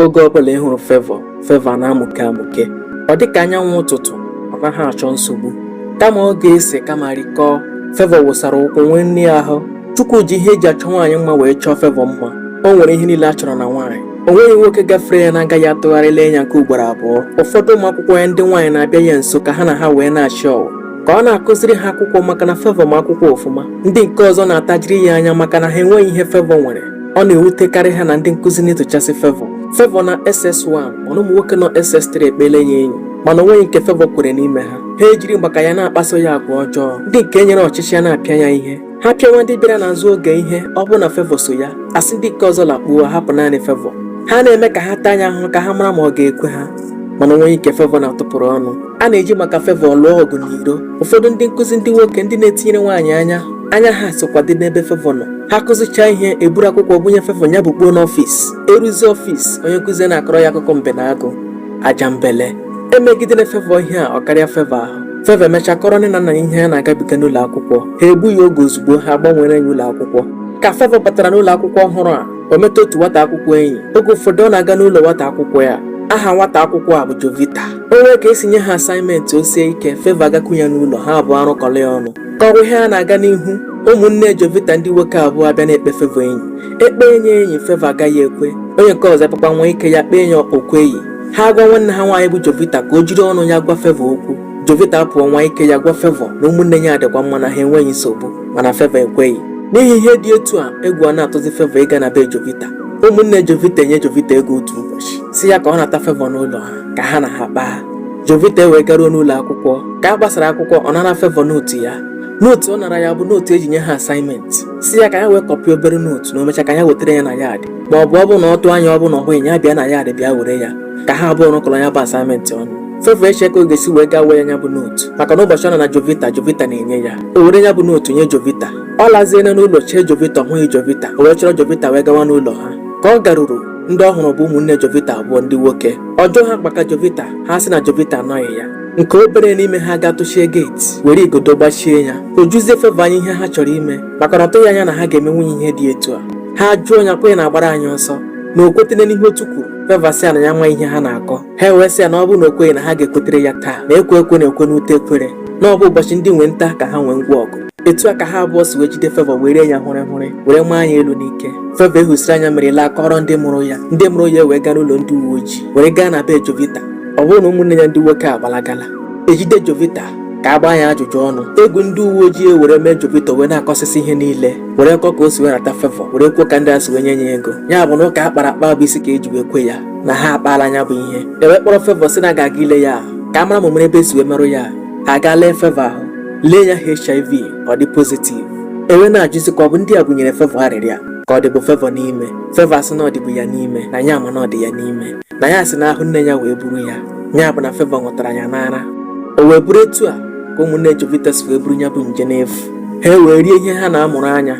oge ọbụla ị hụrụ fevọ fevọ na-amụke amụke ọ dị ka anyanwụ ụtụtụ ọ naghị achọ nsogbu kama ọ ga-ese kama rikọọ fevọ wụsara ukwu nwee nne ya ahụ chukwu ji ihe eji achọ nwaanyị mma wee chọọ fevọ mma o nwere ihe niile a chọrọ na nwaanyị o nweghị nwoke gafere ya na-agaghị atụgharị lee ya nke ugboro abụọ ụfọdụ ụmụ akwụkwọ ya ndị nwaanyị na-abịa ya nso ka ha na ha wee na-achị ọwụ ka ọ na-akụziri ha akwụkwọ maka na fevọ ma akwụkwọ ọfụma ndị nke ọzọ na-atajiri ya anya maka na ha enweghị ihe fevọ nwere ọ na-ewutekarị ha na ndị nkụzi na-etochasị Fevọ Fevọ nọ SS1 mana ụmụ nwoke nọ SS3 ekpeela ya enyi mana onweghị nke Fevọ kwere n'ime ha ha ejiri maka ya na-akpaso ya agwa ọjọọ ndị nke e nyere ọchịchị a na-apịa ya ihe ha pịawa ndị bịara n'azụ oge ihe ọ bụrụ na Fevọ so ya a sị ndị nke ọzọ lakpuo hapụ naanị Fevọ ha na-eme ka ha taa ya ahụhụ ka ha mara ma ọ ga-ekwe ha mana onweghị nke Fevọ na-atụpụrụ ọnụ a na-eji maka Fevọ lụọ ọgụ n'iro ụfọdụ ndị nkụzi ndị nwoke ndị na-etinyere nwaanyị anya anya ha sokwa dị n'ebe fevọ nọ ha kụzichaa ihe eburu akwụkwọ bunye fevọ ya bukpuo n'ọfịs eruzi ọfịs onye nkụzi na-akọrọ ya akụkọ mbe na agụ ajambele emegidere fevọ ihe a ọ karịa fevọ ahụ fevọ emechaa kọrọ nne na nna ya ihe ya na-agabiga n'ụlọ akwụkwọ ha egbughị oge ozugbo ha gbanwere ya ụlọ akwụkwọ ka fevọ batara n'ụlọ akwụkwọ ọhụrụ a o meta otu nwata akwụkwọ enyi oge ụfọdụ ọ na-aga n'ụlọ nwata akwụkwọ ya aha nwata akwụkwọ a bụ Jovita o nwee ka esi nye ha asaịmentị o sie ike fevọ agakwu ya n'ụlọ ha abụọ arụkọrọ ya ọnụ Ka ụdị ihe a na-aga n'ihu, ụmụnne Jovita ndị nwoke abụọ abịa na-ekpe Favour enyi. E kpee ya enyi, Favour agaghị ekwe. Onye nke ọzọ apụkwa nwaa ike ya kpee ya o kweghị. Ha agwa nwanne ha nwaanyị bụ Jovita ka o jiri ọnụ ya gwa Favour okwu. Jovita apụọ nwaa ike ya gwa Favour na ụmụnne ya adịkwa mma na ha enweghị nsogbu mana Favour ekweghị. N'ihi ihe dị etu a, egwu a na-atụzi Favour ịga na be Jovita. Ụmụnne Jovita enye Jovita ego otu ụbọchị, sị ya ka ọ nata Favour n'ụlọ ha ka ha na ha kpaa. Jovita wee garuo n'ụlọ akwụkwọ ka a gbasara akwụkwọ ọ nara Favour nootu ya nootu ọ nara ya bụ nootu eji nye ha asaịmentị sị ya ka ya wee kọpịa obere nootu na o mechaa ka ya wetara ya na yaadị ma ọ bụ ọ bụ na ọ tụọ anya ọ bụ na ọ hụghị ya bịa na yaadị bịa were ya ka ha abụọ rụkọrọ ya bụ asaịmentị ọnụ Favour eche ka ọ ga-esi wee gaa woo ya ya bụ nootu maka na ụbọchị ọ nara Jovita Jovita na-enye ya o were ya bụ nootu nye Jovita ọ laziela n'ụlọ chee Jovita ọ hụghị Jovita o wee chọrọ Jovita wee gawa n'ụlọ ha ka ọ garuru ndị ọ hụrụ bụ ụmụnne Jovita abụọ ndị nwoke ọ jụọ ha maka Jovita ha sị na Jovita anọghị ya nke obere n'ime ha gaa tụchie geeti were igodo gbachie ya o juzie Favour anya ihe ha chọrọ ime maka na ọ tụghị anya na ha ga-emenwu ya ihe dị etu a ha jụọ ya ọ kwa gị na-agbara anyị ọsọ na o kwetene n'ihe otu kwuru Favour asị ha na ya amaghị ihe ha na-akọ ha ewee sị ya na ọ bụrụ na o kweghị na ha ga-ekwetere ya taa na ekwe ekwe na-ekwe n'ute ekwere na ọ bụ ụbọchị ndị nwe nta ka ha nwee ngwa ọgụ etu a ka ha abụọ si wee jide Favour wee ree ya hụrị hụrị were maa ya elu n'ike Favour ehusiri anya mere laa kọọrọ ndị mụrụ ya ndị mụrụ ya wee gaa n'ụlọ ndị uwe ojii were gaa na be Jovita ọ bụrụ na ụmụnne ya ndị nwoke agbalagala e jide Jovita ka a gbaa ya ajụjụ ọnụ egwu ndị uwe ojii ewere mee Jovita wee na-akọsịsị ihe niile were kọọ ka o si wee nata Favour were kwuo ka ndị a si wee nye ya ego ya bụ na ụka a kpara akpa bụ isi ka e ji wee kwe ya na ha akpaala ya bụ ihe ewee kpọrọ Favour sị na a ga-aga ile ya ka a mara ma o nwere ebe e si wee merụ ya ahụ a gaa lee Favour ahụ lee ya HIV ọ dị pozitiv ewee na-ajụzi ka ọ bụ ndị a bunyere Favour arịrịa ka ọ dịbu Favour n'ime Favour asị na ọ dịbu ya n'ime na ya ma na ọ dị ya n'ime na ya si n'ahụ nne ya wee buru ya ya bụ na Favour nwụtara ya n'ara o wee bụrụ etu a ka ụmụnne Jovita si wee buru ya bụ nje n'efu ha wee rie ihe ha na-amụrụ anya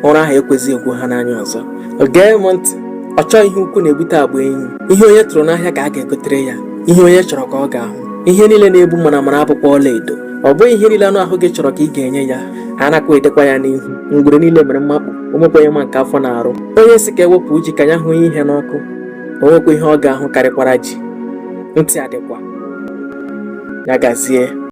ụra ahụ ekwezighị egwu ha n'anya ọzọ gee m ntị ọchọ ihe ukwu na-ebute agba enyi ihe onye tụrụ n'ahịa ka a ga-egotere ya ihe onye chọrọ ka ọ ga-ahụ ihe niile na-egbu mara mara abụkwa ọla edo ọ bụghị ihe niile anụ ahụ gị chọrọ ka ị ga-enye ya a nakwa edikwa ya n'ihi ngwere niile mere mmakpu o nwekwa onye ma nke afọ na-arụ onye sị ka e wepụ ji ka ya hụ ihe n'ọkụ o nwekwa ihe ọ ga-ahụ karịkwara ji ntị adịkwa ya gazie